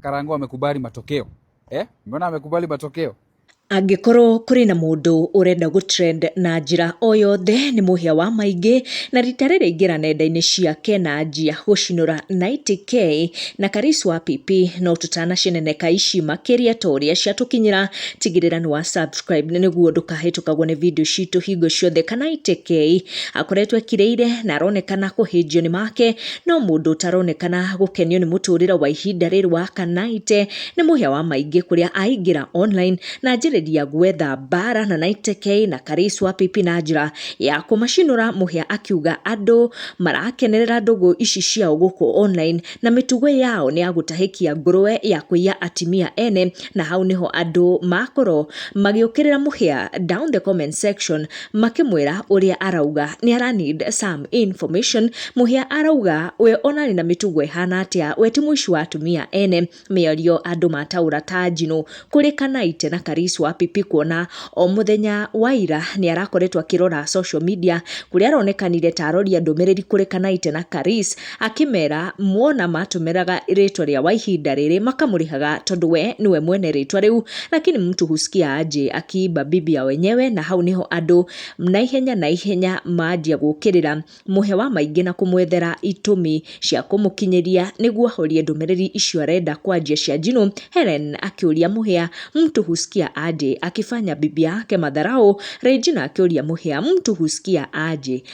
Karango amekubali matokeo eh? Mbona amekubali matokeo? angĩkorwo kũrĩ na mũndũ ũrenda gũtrend na njĩra o yothe nĩ mũhĩa wa maingĩ na rita rĩrĩ ingĩra nenda-inĩ ciake na anjia gũcinũra 90k na karis wa pipi no tũtanaceneneka ici makĩria ta ũrĩa ciatũkinyĩra tigĩrĩra nĩ wa subscribe nĩguo ndũkahĩtũkagwo nĩ video citũ hingo ciothe kana 90k akoretwo ekirĩire na aronekana kũhĩnjio nĩ make No mũndũ ũtaronekana gũkenio nĩ mũtũrĩre wa ihinda rĩrĩ wa Kanaite nĩ mũhĩa wa maingĩ kũrĩa aingĩra online na anjĩrĩria gwetha mbara na Naite K na Karĩs wa PP na njĩra ya kũmacinũra mũhĩa akiuga andũ marakenerera ndũgũ ici ciao gũkũ online na mĩtugo yao nĩ ya gũtahĩkia ngũrũwe ya kũiya atimia ene na hau nĩho andũ makorwo magĩũkĩrĩra mũhĩa down the comment section makĩmwĩra ũrĩa arauga nĩ ara need some information mũhĩa arauga we ona arĩ na mĩtugo ĩhana atĩa we ti mũici wa atumia ene mĩario andũ mataũra ta njinũ kũrĩ kanaite na karis wa pipi kuona o mũthenya wa ira nĩ arakoretwo akĩrora social media kũrĩa aronekanire ta aroria ndũmĩrĩri kũrĩ kanaite na karis Akĩmera muona matũmĩraga rĩtwa rĩa wa ihinda rĩrĩ makamũrĩhaga tondũ we nĩwe mwene rĩtwa rĩu, lakini mtu husikia aje akiimba bibi ya wenyewe, na hau nĩho andũ na ihenya na ihenya manjia gũkĩrĩra mũhe wa maingĩ na kũmwethera itũmi cia kũmũkinyĩria nĩguo ahorie ndũmĩrĩri icio arenda kwa njia cia njino. Hellen akĩũria mũhĩa mtu husikia aje akifanya bibi yake madharau. Regina akĩũria mũhĩa mtu husikia aje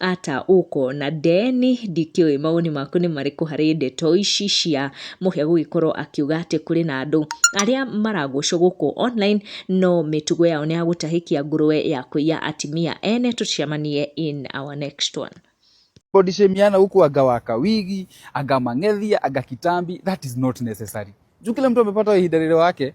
ata ũko na Deni ndikĩũĩ mawoni maku nĩ marĩkũ harĩ ndeto ici cia mũhĩa gũgĩkorwo akiuga atĩ kũrĩ na andũ arĩa maragocwo gũkũ online no mĩtugo yao nĩ ya gũtahĩkia ngũrũwe ya kũiya atimia ene tũcemanie in our next one body shame yana huku aga waka wigi aga mang'ethia aga kitambi that is not necessary juu kila mtu amepata ihida lile wake